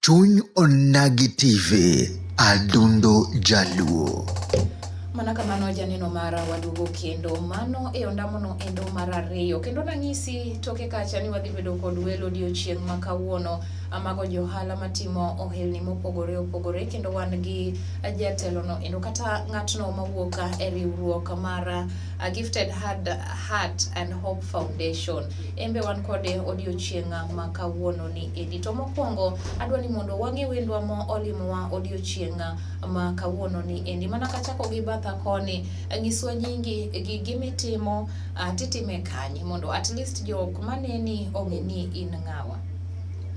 Chuny Onagi TV, Adundo Jaluo. Mana kamano janeno mara waduogo kendo mano e ondamono endo mar ariyo kendo nang'isi toke kacha ni wadhi bedo kod welo odiochieng' ma kawuono amago johala matimo ohelni mopogore opogore kendo wan gi jatelono endo kata ng'atno mawuok e riwruok mar uh, Gifted Heart, Heart and Hope Foundation embe wan kode odiochieng' ma kawuono ni endi to mokwongo adwa ni mondo wang'e wendwa mo olimowa odiochieng' ma kawuono ni endi mana kachako gi batha koni nyiswa nyingi gi gimitimo uh, titime kanye mondo at least jok maneni ong'e ni in ng'awa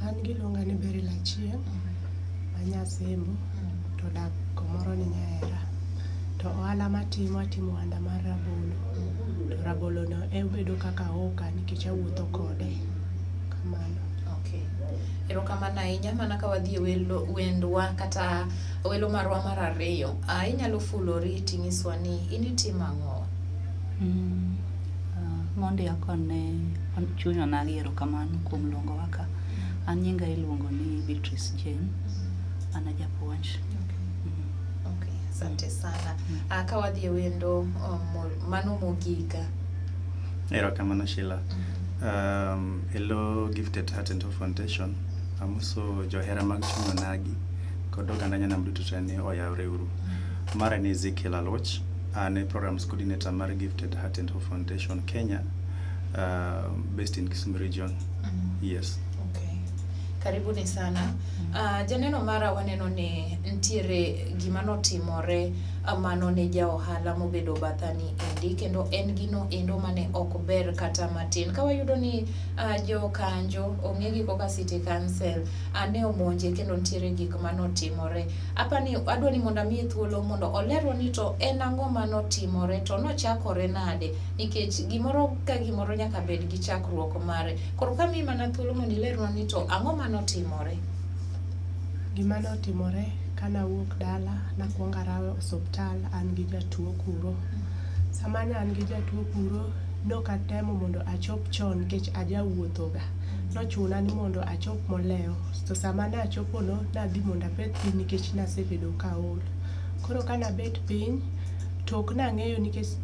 an giluonga ni beri lachien mm-hmm. anyasembo mm-hmm. to dak komoro ni nyahera to ohala matimo atimo ohanda mar rabolo mm-hmm. to rabolo no obedo kaka oka nikech awuotho kode. Kamano. Okay. Erokamano ahinya mana ka wadhi e welo wendwa kata welo marwa mar ariyo. Ah, inyalo fulori tinyiswa ni in itimo ang'o? Mm, ah, mondi akone chunya nagi erokamano kuom luongo waka. An nyinga iluongo ni Beatrice Jane. An ajapuonj. Okay. Okay, asante sana. Ah, ka wadhi e wendo um, mo- mano mogika. Erokamano Sheila. Um, hello Gifted Heart and Hope Foundation. Amuso johera mag chuny onagi kod oganda nyanam duto te ni oyawre uru. Mara ni Ezekiel Aloch, an e programs coordinator mar Gifted Heart and Hope Foundation Kenya, uh, based in Kisumu region. Yes. Okay. Karibuni sana. Uh, janeno mara waneno ni ntiere gima notimore ah, mano ne ja ohala mobedo bathani endi kendo en gino endo mane ok ber kata matin ka wayudo ni uh, jokanjo ong'e gi koka city council uh, ne omonje kendo ntiere gik manotimore apa ni adwa ni mondo amiye thuolo mondo olerwa ni to en ang'o manotimore to nochakore nade nikech gimoro ka gimoro nyaka bed gi chakruok mare Koro ka mi mana thuolo mondo ilernwa ni to ang'o ma notimore? Gima notimore ka nawuok dala nakwongo arawe osuptal an gi jatuo kuro. Sama ne an gi jatuo kuro nokatemo mondo achop chon nikech ajawuothoga. Nochuna ni mondo achop molewo to sama nachopono nadhi mondo abed piny nikech nasebedo kaol. Koro ka nabet piny to ok nang'eyo nikech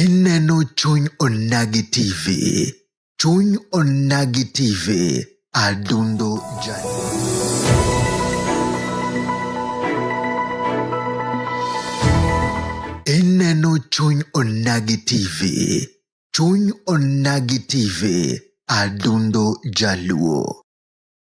Ineno chuny onagi TV. Chuny onagi TV. Adundo Jani. Ineno chuny onagi TV. Chuny onagi TV. Adundo Jaluo.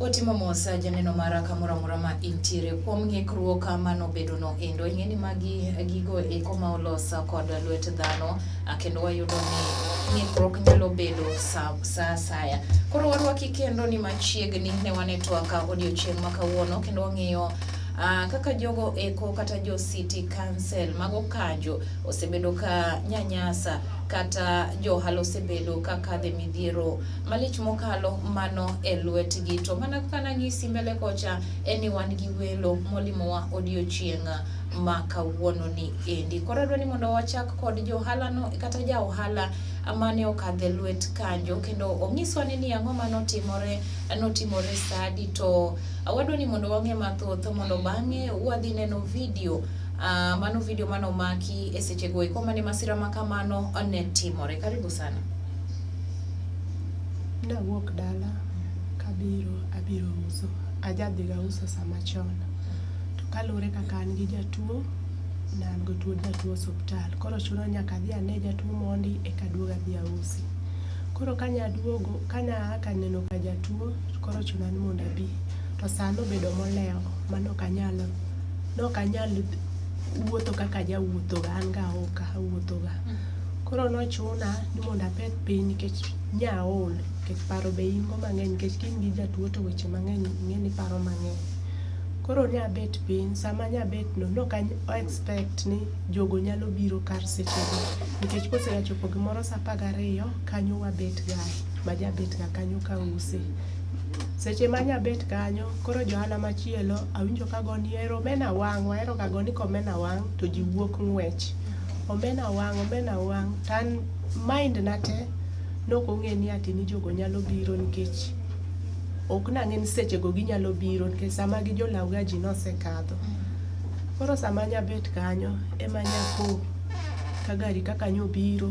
Otimo mos janeno mara kamoro amora ma intiere kuom ng'ikruok mano bedono endo ing'e ni magi gigo eko ma olos kod lwet dhano Ah, kendo wayudo ni ng'ikruok nyalo bedo sa asaya. Koro warwaki kendo ni machiegni ne wane twaka odiochieng' ma kawuono kendo wang'iyo Uh, kaka jogo eko kata jo city council mago kanjo osebedo ka nyanyasa kata johal osebedo ka kadhe midhiero malich mokalo mano e lwetgi to mana kaka nanyisi mbele kocha en ni wan gi welo molimowa odiochieng' ma kawuono ni endi. Koro adwa ni mondo wachak kod johala no kata ja ohala mane okadhe lwet kanjo kendo onyiswa ni ang'o ma notimore notimore sadi to wadwa ni mondo wang'e mathoth mondo bang'e wadhi neno video Uh, mano video mano maki e seche go eko mane masira ma kamano ne timore. Karibu sana. Nawuok dala kabiro abiro uso ajadhiga uso sama chon To kaluwore kaka an gi jatuo, ne an gi tuo jatuo osuptal. Koro chuno ni nyaka adhi ane jatuo mondi eka aduog adhi ausi. Koro ka nya duogo, ka nya a ka neno ka jatuo, koro chuna ni mondo abi. To sa nobedo molewo ma nok anyal, nok anyal wuotho kaka jawuotho ga, an ga aoka, awuotho ga. Koro nochuna ni mondo apedh piny nikech nya aol, nikech paro be in go mang'eny nikech ka in gi jatuo to weche mang'eny ing'e ni iparo mang'eny. Koro ne abet piny, sama ne abet no ne ok a expect ni jogo nyalo biro kar seche go nikech kose ga chopo gimoro saa apar gariyo kanyo wabet ga ma jabet ga kanyo ka use. Seche ma nya bet kanyo koro jo ohala machielo awinjo ka goni ero omena wang', wahero ga goni ka omena wang' to ji wuok ng'wech. Omena wang', omena wang' to an mind na te ne ok ong'e ni jogo nyalo biro nikech ok nang'e ni sechego ginyalo biro nikech sama gi jolawga ji nosekadho koro sama nyabet kanyo ema nyapo ka gari kaka nyobiro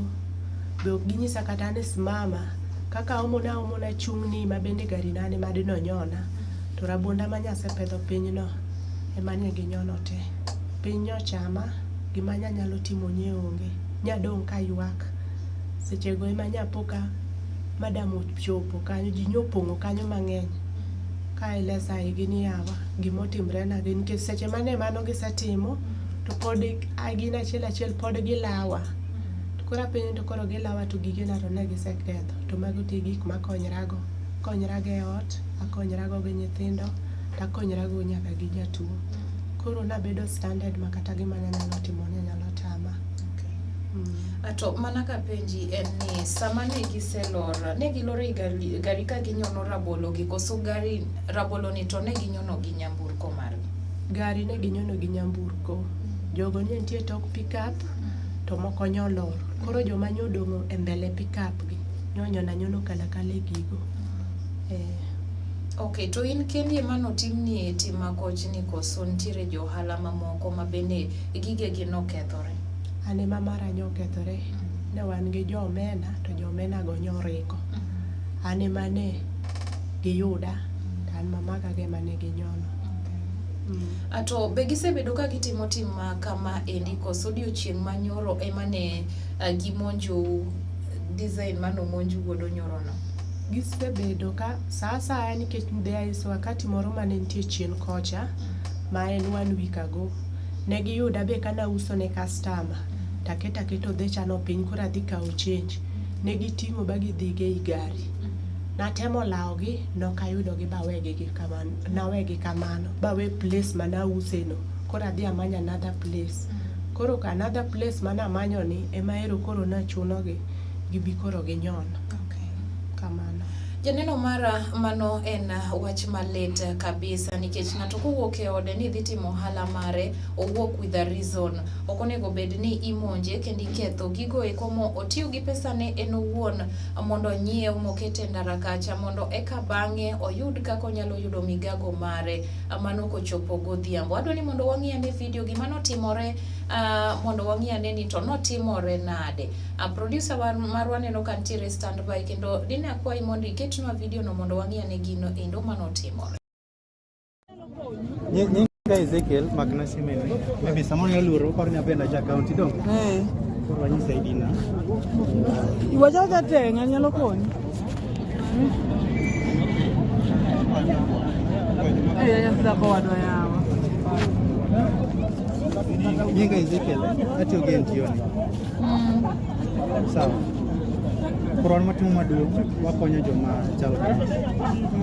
be ok ginyisa kata ni simama kaka omona omona chung'ni ma bende gari nane madi nonyona to rabonda ma nyasepedho pinyno ema ne ginyono te piny nyochama gima nyanyalo timo nye onge nyadong' ka ywak sechego ema nyapo ka madam chopo kanyo ji nyo opong'o kanyo mang'eny ka ilesa igi ni yawa gima otimre na gi nikech seche mane mano gisetimo to pod gin achiel achiel pod gilawa to koro apenjo to koro gilawa to gige na to ne giseketho to mago te gik makonyrago akonyrago e ot akonyrago gi nyithindo to akonyrago nyaka gi jatuo koro nabedo stranded ma kata gima nanyalo timo ne nyalo tama Ato mana ka penji en ni sama ne giselor, ne giloro i gari, gari ka ginyono rabolo gi koso gari rabolo ni to ne ginyono gi nyamburko margi. Gari ne ginyono gi nyamburko. Jogo ne nitie tok pickup to moko nyolor. Koro joma nyodong'o e mbele pickup gi nyonyono anyono kalakala e gigo. Eh. Okay, to in kendi ema notimni tim makoch ni koso nitiere jo ohala mamoko ma bende gigegi nokethore? an ema mara nyo okethore ne wan gi jo omena to jo omena go nyo ringo an ema ne giyuda to an mamaka go ema ne ginyono ato be gisebedo ka gitimo tim ma kama endi koso odiochieng' ma nyoro ema ne ah, gimonjou design mane omonju godo nyorono gisebedo ka sa asaya nikech there is wakati moro mane nitie chien kocha ma en one week ago Ne giyuda be ka nauso ne kastama, taketo aketa odhechano piny koro adhi kawo chenj. Ne giting'o ba gidhigo ei gari. Natemo lawogi, nok ayudogi bawegi gi kamano, nawegi kamano, bawe place ma nauseno. Koro adhi amanyo another place. Koro ka another place ma namanyoni, ema ero koro nachunogi gibi koro ginyon. Okay. Kamano. Janeno mara, mano en wach malit kabisa nikech ng'ato kowuok e ode ni dhi timo ohala mare, owuok with a reason. Ok onego bed ni imonje kendo iketho gigo eko mo otiyo gi pesane en owuon mondo onyiew moket e ndara kacha mondo eka bang'e oyud kaka onyalo yudo migago mare mano kochopo godhiambo. Adwa ni mondo wang'i ane video gima notimore, ah, mondo wang'i ane ni to notimore nade. A producer war, marwa neno ka nitiere standby kendo dine akwayi mondo iketnwa video no mondo wang'i ane gino endo mano timore. Nyinga Ezekiel Magna Simene. Maybe someone nyalo luoro kor nyapenda cha county dong. Eh. Koro anyisa ID na. Iwacha ka tenga nyalo konyi. Eh, ya ya sida kwa wadwa yawa. Nyinga Ezekiel atiyo gen tioni. Sawa. Korwan matimo maduong' wakonyo joma chal kama.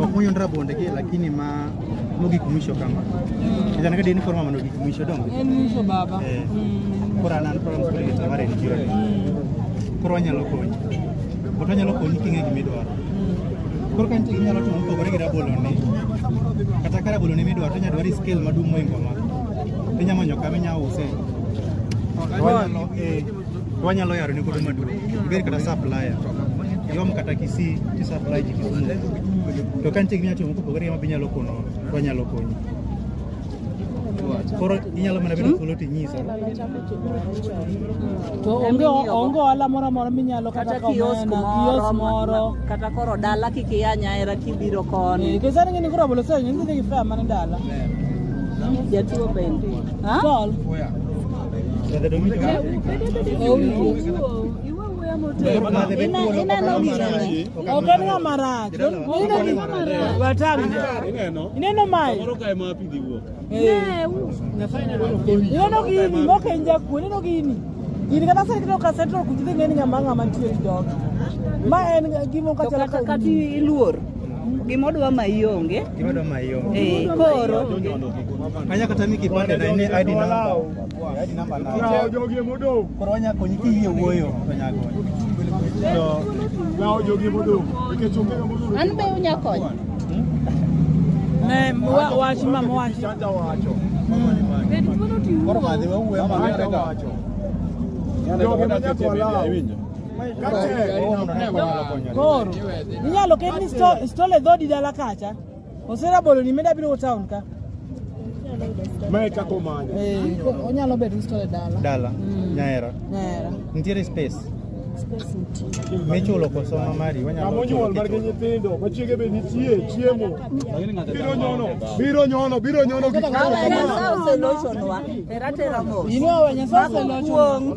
Ok muyon rabonde gi lakini ma mogik mwisho kama. Ita naka dini korma mano gik mwisho dongo. En mwisho baba. Eh. Mm. Koro an an program koro gita mare en kiro. Koro wanyalo konyi. Koro wanyalo konyi king'e gima idwaro. Koro ka nitie gima inyalo timo mopogore gi rabolo ni. Kata ka rabolo ni midwaro to inyalo dwaro scale maduong' moingo ma. Inya manyo kama inya use. Wanyalo eh wanyalo yaro ni kudu madu. Beri kata supplier. Yom kata kisi ti supply ji kisumu. To kan tigni ati mko pogore ma binyalo kono wanyalo konyi. Koro inyalo mana bedo kulo ti nyisa. To onge onge ohala moro amora minyalo kata kata kiosk kamena, kiosk moro moro. ma- kata koro dala kik iya nyaera kibiro koni Eh, Kesa ni ngini kura bolo sasa ngini ni kifaa mani dala. jatuo bende Ha? Tol. Okani nga marach. Ineno marach. Watani. Ineno mai. Ineno gini moko en jakuo, ineno gini. Gini kata sani kineno ka central kuchi dhi ng'eni ng'ama ng'ama nitie e dog. Ma en gimo ka chalo kata kati iluor gima odwa ma ionge gima odwa ma ionge eh koro anya kata ni kipande na ni ID number ID number na jogi modong koro anya konyi kiyie wuoyo to nyago to jogi modong nikech onge modong an be unya konyo Ne mwa wachi ma mwachi. Chanja wacho. Koro madhi we uwe ma ngere ga. Ndio kimanya kwa lao. Koro inyalo ketni stole dhodi dala kacha. Osera bolo ni meda biro town ka. Mae kaka omanyo. Eh, onyalo bedo usto e dala. Dala. Mm. Nyaera. Nyaera. Nitiere space. Michulo koso ma mari wanyalo. Kama onyuol mar gi nyithindo, ma chiege be nitie, chiemo. Biro nyono, biro nyono, biro nyono gik moko. Inua wanya sasa lochonwa.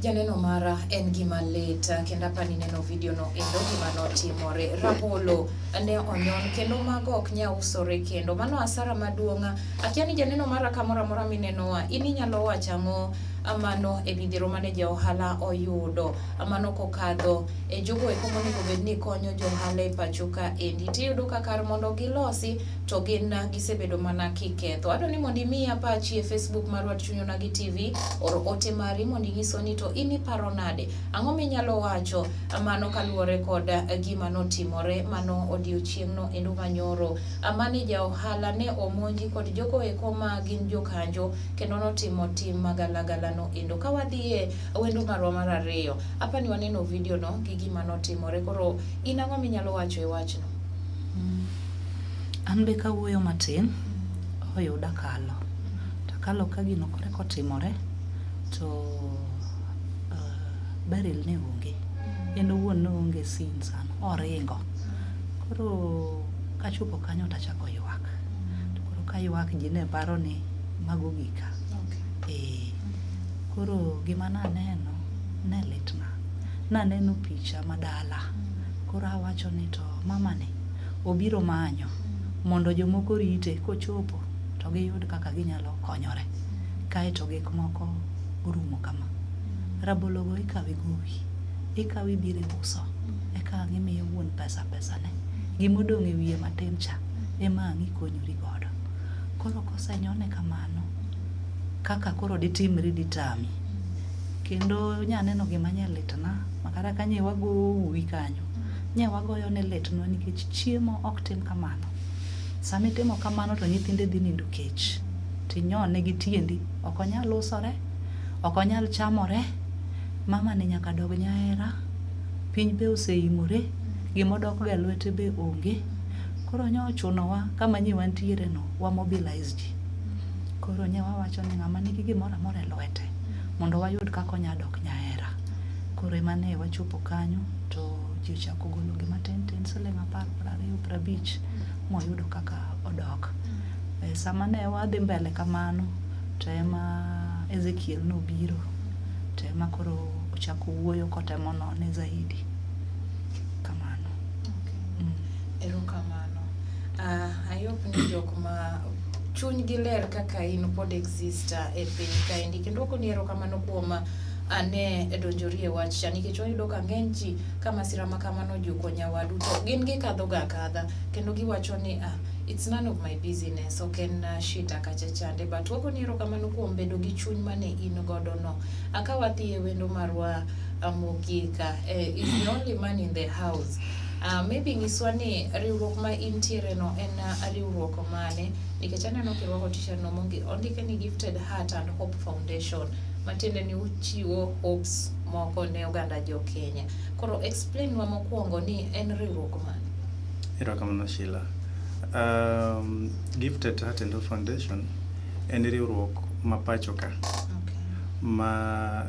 Janeno mara en gima lit kendo apa nineno video no endo gima notimore. Rabolo ne onyon kendo mago ok nya usore kendo. Mano asara maduong'. Akia ni janeno mara kamoro amora minenoa in inyalo wacho ang'o mano e midhiero mane ja ohala oyudo mano kokadho e jogo eko monego bed ni konyo jo ohala e pacho ka endi tiyudo ka kar mondo gilosi to gin gisebedo mana kiketho adwa ni mondo imi apachi e facebook mar wat chuny onagi tv or ote mari mondo inyiso ni to in iparo nade ang'o minyalo wacho mano kaluwore kod gima notimore mano odiochieng'no endo manyoro mane ja ohala ne omonji kod jogo eko ma gin jokanjo kendo notimo tim magalagalano endo. Ka wadhiye wendo marwa mar ariyo, apa ni waneno video no gi gima notimore. Koro in ang'o minyalo wacho e wachno? Mm. An be kawuoyo matin, oyuda kalo. Takalo ka gino kore kotimore, to uh, Beryl ne onge. Mm. En owuon ne onge sin sana, oringo. Koro kachopo kanyo tachako ywak. to koro ka ywak ji ne paro ni mago gika ee koro gima naneno ne litna naneno picha ma dala koro awacho ni to mamani obiro manyo mondo jomoko rite kochopo to giyud kaka ginyalo konyore kaeto gik moko orumo kama rabologo ikawe gowi ikawe ibiro iuso eka ang' imiyo wuon pesa pesane gimodong' e wiye matin cha ema ang' ikonyori godo. Koro kosenyone kamano, kaka koro ditimri ditami. Kendo nyaneno gima nye litna, makata ka nye wago uwi kanyo, nye wagoyo ne litnwa nikech chiemo ok tim kamano. Sama itimo kamano to nyithinde dhi nindo kech, tinyone gi tiendi, ok onyal usore, ok onyal chamore, mama ni nyaka dog nyahera, piny be oseimore, gimodokgo e lwete be onge. koro nyo ochunowa kama nyiwa ntiere no wa mobilize ji koro nye wawacho ni ng'ama nigi gimoro amora e lwete mondo wayud kaka onya dok nyahera koro ema ne wachopo kanyo to ji ochako golo gima tin tin siling apar prariyo prabich moyudo kaka odok e, sama ne wadhi mbele kamano to ema ezekiel nobiro to ema koro ochako wuoyo kotemo none zaidi Erokamano. Uh, I hope ni jok ma chunygi ler kaka in pod exist uh, e piny kaendi kendo ok ni erokamano kuom uh, ane donjori e wach cha nikech wayudo ka ng'eny ji ka masira ma kamano ojuko nyawadu to gin gikadhoga akadha kendo giwacho ni ah, it's none of my business ok en uh, shita kacha chande but wagoni erokamano kuom bedo gi chuny mane in godo no akawadhi e wendo marwa Amogika, eh, is the only man in the house. Uh, maybe nyiswa ni riwruok ma intiere no en uh, riwruok mane nikech aneno kirwako t-shirt no mongi ondike ni gifted heart and hope foundation matiende ni uchiwo hopes moko ne oganda jo kenya koro explain wa mokwongo ni en riwruok mane Erokamano Sheila. Um, Gifted Heart and Hope Foundation en riwruok ma pachoka ma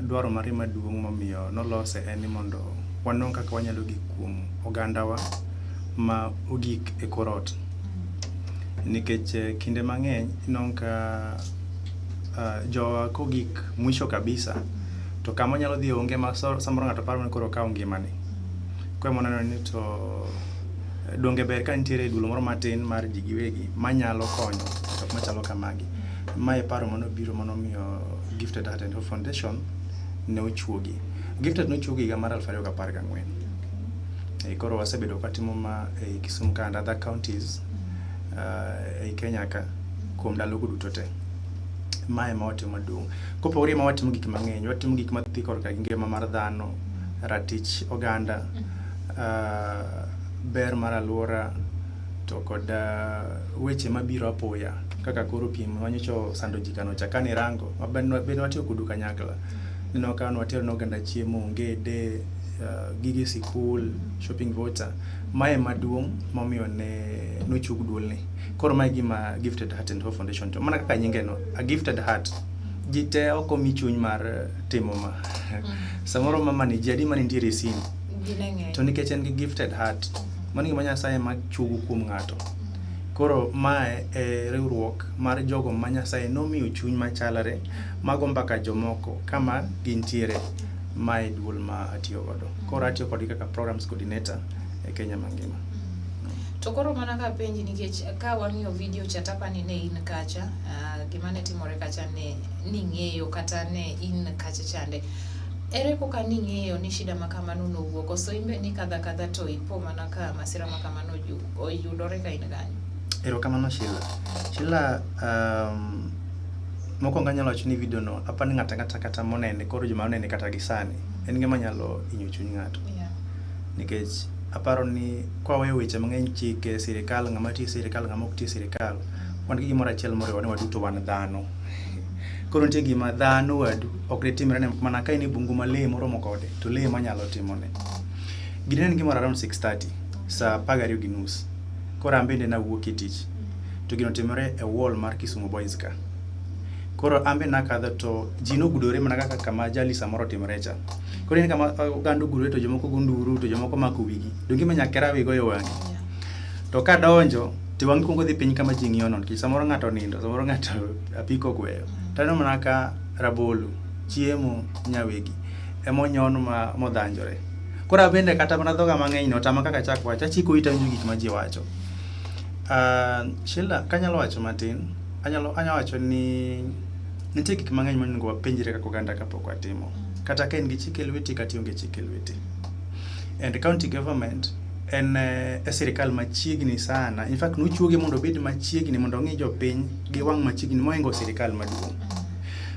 dwaro mare maduong' momiyo nolose en ni mondo wanon kaka wanyalo gik kuom ogandawa ma ogik e kor ot. Nikech eh, kinde mang'eny inon ka ah, jowa kogik mwisho kabisa to kama onyalo dhi onge ma so- samoro ng'ato paro ni koro okawo ngimane. Koro ema waneno ni to donge ber ka nitiere dulo moro matin mar ji giwegi manyalo konyo jok machalo kamagi. Ma e paro manobiro manomiyo Gifted Heart and Hope Foundation ne ochuogi. Gifted nochuogi higa mar aluf ariyo gapar gang'wen. Eh, Koro wasebedo katimo ma ei Kisumu ka and other counties uh, ei Kenya ka kuom ndalogo duto te. Mae ma watimo maduong'. Kopogore ma watimo gik mang'eny, watimo gik madhi korka gi ngima mar dhano, ratich oganda, ber mar aluora to kod weche mabiro apoya kaka koro piem ma nyocha osando ji kano cha kane irango be ne watiyo kodu kanyakla. Ineno ka ne watero ne oganda chiemo, ongede, gige sikul, shopping voucher. Ma ema duong' momiyo ne nochug duol ni. Koro ma e gima Gifted Heart and Hope Foundation timo. Mana kaka nyinge no, a gifted heart. Ji te ok omi chuny mar timo ma. Samoro ma mane ji adi mane nitiere e sin. to nikech en gi gifted heart mano gima nyasaye ma chugo kuom ng'ato koro mae e riwruok mar jogo ma nyasaye nomiyo chuny machalre mago mbaka jomoko kama gintiere mae duol ma atiyo godo koro atiyo kodgi kaka programs coordinator e kenya mangima to koro mana ka penji nikech ka wang'iyo video cha tapa ni ne in kacha uh, gima ne timore kacha ne ning'eyo kata ne in kacha chande Ere koka ning'eyo ni shida ma kamano nowuok? Koso imbe nikadho akadha to ipo mana ka masira ma kamano oyudore ka in kanyo? Erokamano Sheila. Sheila, um, mokwongo anyalo wacho ni video no apa ni ng'ata ng'ata kata monene koro joma onene kata gi sani en gima nyalo inyo chuny ng'ato yeah. nikech aparo ni kwaweyo weche mang'eny chike sirikal ng'ama tiyo sirikal ng'ama ok tiyo sirikal mm. wan gi gimoro achiel moriwa ni waduto wan dhano Koro nitie gima dhano wadu ok ditimre ne mana ka in e bungu ma lee moromo kode to lee manyalo timone. Gini ne gimoro around 6:30 saa apar gariyo gi nus. Koro an bende nawuok e tich to gino otimore e wall mar Kisumu Boys ka. Koro an be nakadho to ji nogudore mana kaka kama ajali samoro otimore cha. Koro ineno kama oganda ogudore to jomoko go nduru to jomoko mako wigi. Donge ma nyakera wiye goyo wang'e. to ka donjo to wang'i kuongo dhi piny kama ji ng'iyono nikech samoro ng'ato nindo samoro ng'ato apiko gweyo to aneno mana ka rabolo chiemo nyawegi emonyon ma modhanjore koro abende kata mana dhoga mang'eny no tama kaka chak wacho achiko ita winjo gik ma ji wacho Ah, Sheila kanyalo wacho matin anyalo anyalo wacho ni nitie gik mang'eny monego wapenjre kaka oganda kapok watimo kata ka in gi chike lweti kata ionge chike lweti and county government en eh, e sirikal machiegni sana. In fact, nochuoge mondo obed machiegni mondo ong'i jopiny gi wang' machiegni moingo sirikal maduong'.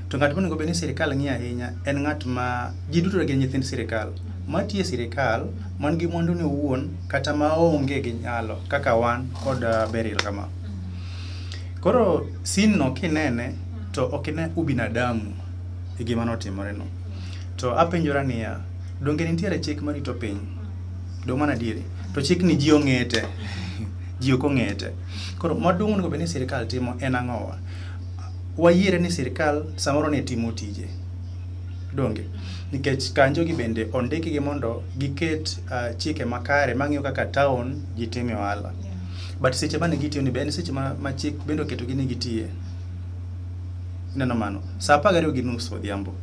To ng'at monego obed ni sirikal ng'iyo ahinya en ng'at ma ji duto gin nyithind sirikal matiyo e sirikal man gi mwandune owuon kata ma onge gi nyalo kaka wan kod eh, Beryl kama. Koro sin no kinene to ok ine ubinadamu e gima notimoreno. To apenjora niya, donge nitiere chik marito piny? Dong mana diere. To chik ni ji ong'ete. Ji ok ong'ete. Koro maduong' onego bed ni sirkal timo en ang'owa? Wayiere ni sirkal samoro ne timo tije. Donge? Nikech kanjo gi bende ondiki gi mondo giket uh, chike makare mang'iyo kaka town ji time ohala. Yeah. But seche mane gitiyo ni be en seche ma, ma chik bende oketo gi ni gitiye. Ineno mano. Sa apar gariyo gi nus odhiambo.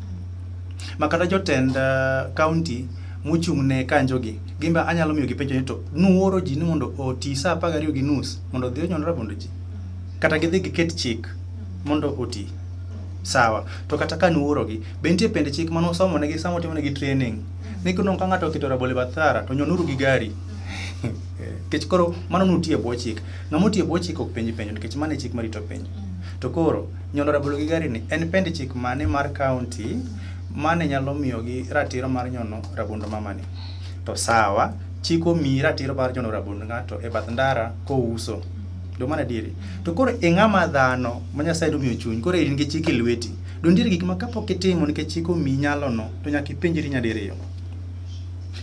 Ma kata jotend uh, county mochung' ne kanjogi, gin be anyalo miyo gipenjo ni to nuoro ji ni mondo oti sa apar gariyo gi nus mondo odhi onyon rabond ji? Kata gidhi giket chik mondo oti. Sawa. To kata ka nuorogi, be nitie pend chik mane usomo negi sama utimo negi training? Ni kuno ka ng'ato oketo rabolo e bath thara to nyonuru gi gari. Nikech koro mano nuti e bwo chik. Ng'ama oti e bwo chik ok penj penjo nikech mano e chik marito piny. To koro, nyono rabolo gi gari ni en pend chik mane mar kaunti mane nyalo miyogi ratiro mar nyono rabond mamani to sawa chik omiyi ratiro mar nyono rabond ng'ato e bath ndara kouso do mana adieri to koro e ng'ama dhano ma nyasaye nomiyo chuny koro in gi chik e lweti do nitiere gik ma kapok itimo nikech chik omiyi nyalono to nyaka ipenjri nyadiriyo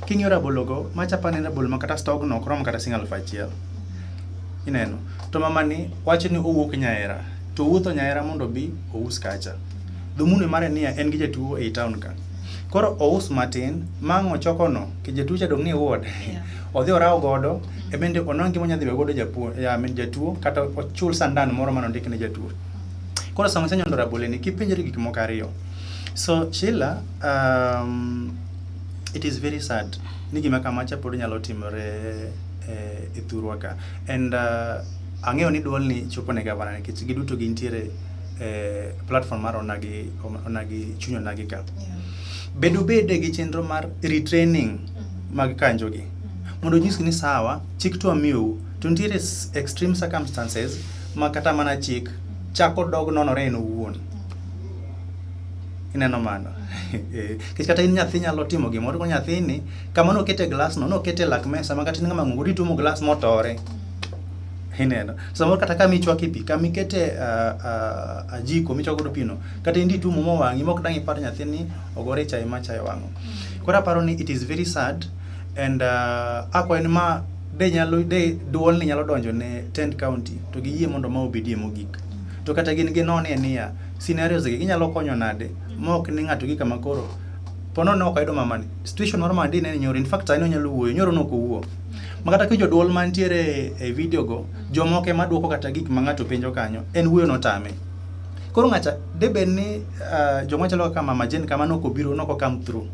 king'iyo rabologo machapa ne rabolo ma kata stogno ok rom kata sing aluf achiel ineno to mamani wacho ni owuok nyahera to owuotho nyahera mondo obi ous kacha dhumune mare niya en gi jatuo ei town ka koro ous matin mang' ochokono ke jatuo cha dong' ni ward Yeah. odhi oraw godo e bende onon gima onyadhi we godo japuo ya min jatuo kata ochul sandan moro mane ondik ne jatuo koro sama isenyondo raboleni kipenjori gik moko ariyo so Sheila um, it is very sad ni gima kama cha pod nyalo timore eh, e thurwa ka and uh, ang'eyo ni duol ni chopo ne gavana nikech giduto gintiere eh, platform mar onagi onagi chuny onagi ka Yeah. bedo bede gi chenro mar retraining Mhm. mag kanjogi Mhm. mondo onyisgi ni sawa chik to amiyou to nitiere s- extreme circumstances ma kata mana chik chako dog nonore en owuon ineno mano Eh, nikech kata in nyathi nyalo timo gimoro ko nyathini kama nokete glasno nokete lak mesa ma kata in ng'ama ng'ongo dituomo glas motore Ineno. Samoro kata kama ichwake pi, kama ikete ah, ah, ajiko michwako godo pino, kata in ditumo mo wang'i mok dang' ipar nyathini ogore e chai ma chai owang'o. Koro aparo ni it is very sad and ah, akwayo ni ma de nyalo de duol ni nyalo donjo ne Tent County to giyie mondo ma obedie mogik. To kata gin ginone e niya, scenarios gi ginyalo konyo nade ma ok ni ng'ato gi kama koro pono ne ok ayudo mamani. Situation mar mamani dine ni nyoro, in fact sani onyalo wuoyo, nyoro ne ok owuo. ma kata ki joduol mantiere e video go jomoko ema dwoko kata gik ma ng'ato penjo kanyo en wuoyo notame koro ng'acha de bed ni uh, joma chalo kaka mama Jane kama noko biro noko come through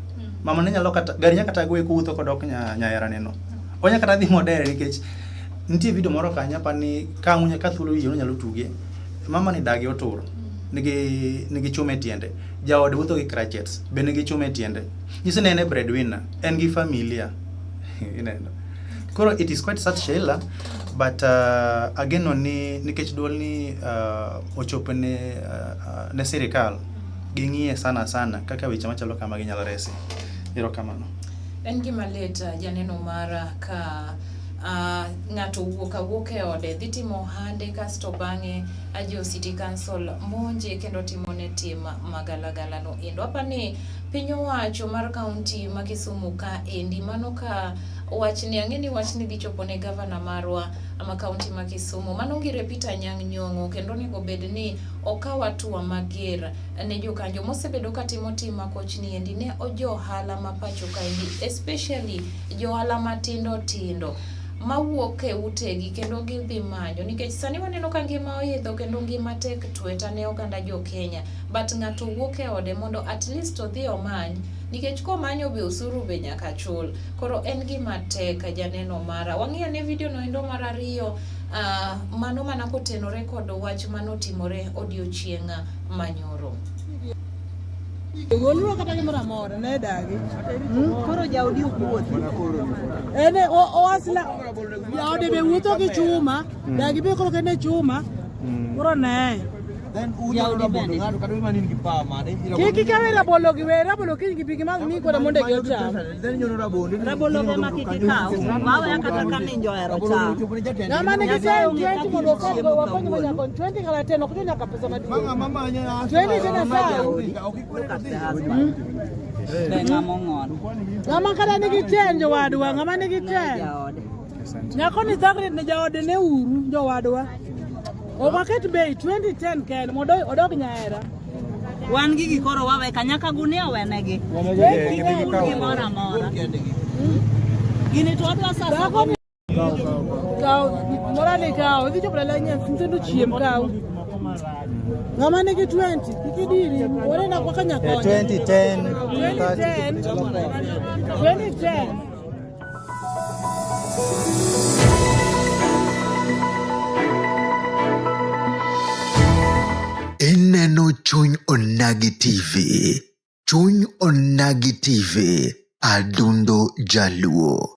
mama ne nyalo kata gari nyaka kata goye kuwuotho kodok nya- nyayarane no onya kata dhi modere nikech nitie video moro kanya pa ni ka munya ka thuolo wiye onyalo tuge mama ni dagi otur nigi nigi chuma e tiende jaode wuotho gi crutches be nigi chuma e tiende nyiso ni en e breadwinner en gi familia ineno koro it is quite sad Sheila but uh, ageno ni nikech duol ni uh, ochopo ne, uh, ne sirikal ging'iye sana sana kaka weche machalo kama ginyalo resi ero kamano en gima lit uh, janeno mara uh, ka uh, ng'ato wuok awuok e ode dhi timo ohande kasto bang'e ajo city council monje kendo timone tim magalagalano endo apa ni Piny owacho mar kaunti ma Kisumu ka endi mano ka wachni ang'e ni wachni dhi chopo ne gavana marwa ma kaunti ma Kisumu mano ngire Peter Nyang' Nyong'o kendo onego bed ni okaw atua mager ne jokanjo mosebedo ka timo tim makochni endi ne ojohala ma pacho ka endi especially johala matindo tindo mawuok e utegi kendo gidhi manyo nikech sani waneno ka ngima oidho kendo ngima tek tweta ne oganda jo Kenya. but ng'ato wuok e ode mondo at least odhi omany nikech komanyo be osuru be nyaka chul koro en gima tek janeno mara wang'iyo ne video no endo mar ariyo uh, mano mana kotenore kod wach manotimore odiochieng' manyoro Wuonwa kata gimoro amora ne dagi. Hmm? Koro jaodi ok wuothi. Ene oasla jaode be wuotho gi chuma. Mm. Dagi be kolo kene chuma. Mm. Uro ne. Then uja ura bodo ngado kadu mani ngi pa mane. Kiki kawe ra bolo gi we ra bolo kiki gi bigi mag ni ko da monde gi ocha. Then nyono ra bodo. Ra bolo ga ma kiki ka. Wawe akata ka ni njo ero cha. Na mane gi se ngi ti mo ko go wa ko ni mo nyakon 20 kala teno ko nyaka pesa madi. Mama mama nya. 20 tena sa. Okikwe ka ti. Be ngamo ngon. Ngama kada ni gi chenjo wadwa ngama ni gi chenjo. Nyako ni thagre ne jaode ne uru jowadwa. Ok waket bei 2010 ken mondo odog nyahera. Wan gi gikoro wawe kanyaka gunia owenegi. Gimoro amora. Gini to wadwa sasa. Kaw, mora ni kaw, idhi chopo dala nyen, nyithindo chiem kaw. Ng'ama nigi 20 kik idiri, ore na kwa kanyakonya. 2010 2010 2010 Ineno chuny onagi TV. Chuny onagi TV. Adundo Jaluo.